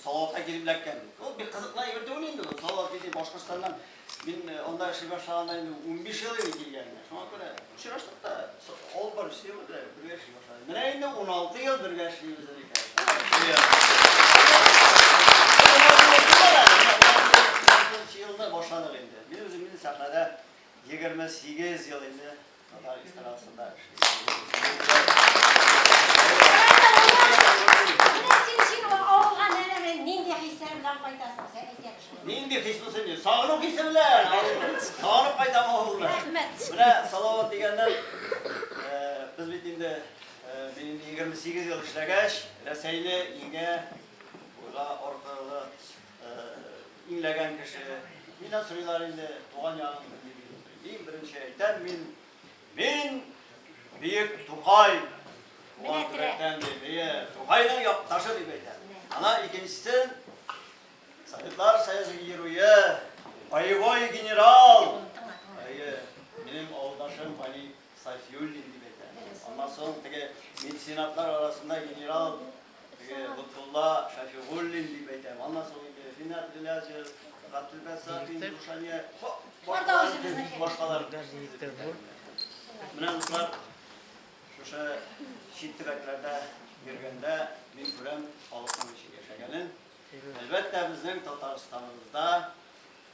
Салаватка килеп эләккән. Ул бик кызыклы әйбер түгел инде бу. Салават китеп Башкортстаннан мин анда эшли башлаганда инде унбиш ел иде килгәненә. Шуңа күрә очраштык та, авыл больничасы янында да бергә эшли башладык. Менә инде уналты ел бергә эшлибез әле икәү. Мин үзем инде сәхнәдә егерме сигез ел инде. Татар эстрадасында Нинди хис булсын ди? Сагыну хисе белән. Сагынып кайтам авылга. Рәхмәт. Менә Салават дигәннән без бит инде мин 28 ел эшләгәч, Рәсәйне иңә, буйга, аркылы Имләгән кеше миннән сорыйлар инде, туган ягың нинди дип. Иң беренче әйтәм мин, мин Биек Тукай. Туган төбәктән ди, әйе, Тукайның якташы дип әйтәм. Ана икенчесе Советлар Союзы геруе, боевой генерал. Әйе, минем авылдашым Вали Сайфиуллин дип әйтә. Аннан соң теге меценатлар арасында генерал теге Лотфулла Шафигуллин дип әйтә. Аннан соң инде Финат Гыйлязев, Гатилбәт Сафин, Рушания, башкалар бик башкалар. Менә дуслар, шушы чит төбәкләрдә йөргәндә мин күрәм халыкның ничек яшәгәнен. Әлбәттә, безнең Татарстаныбызда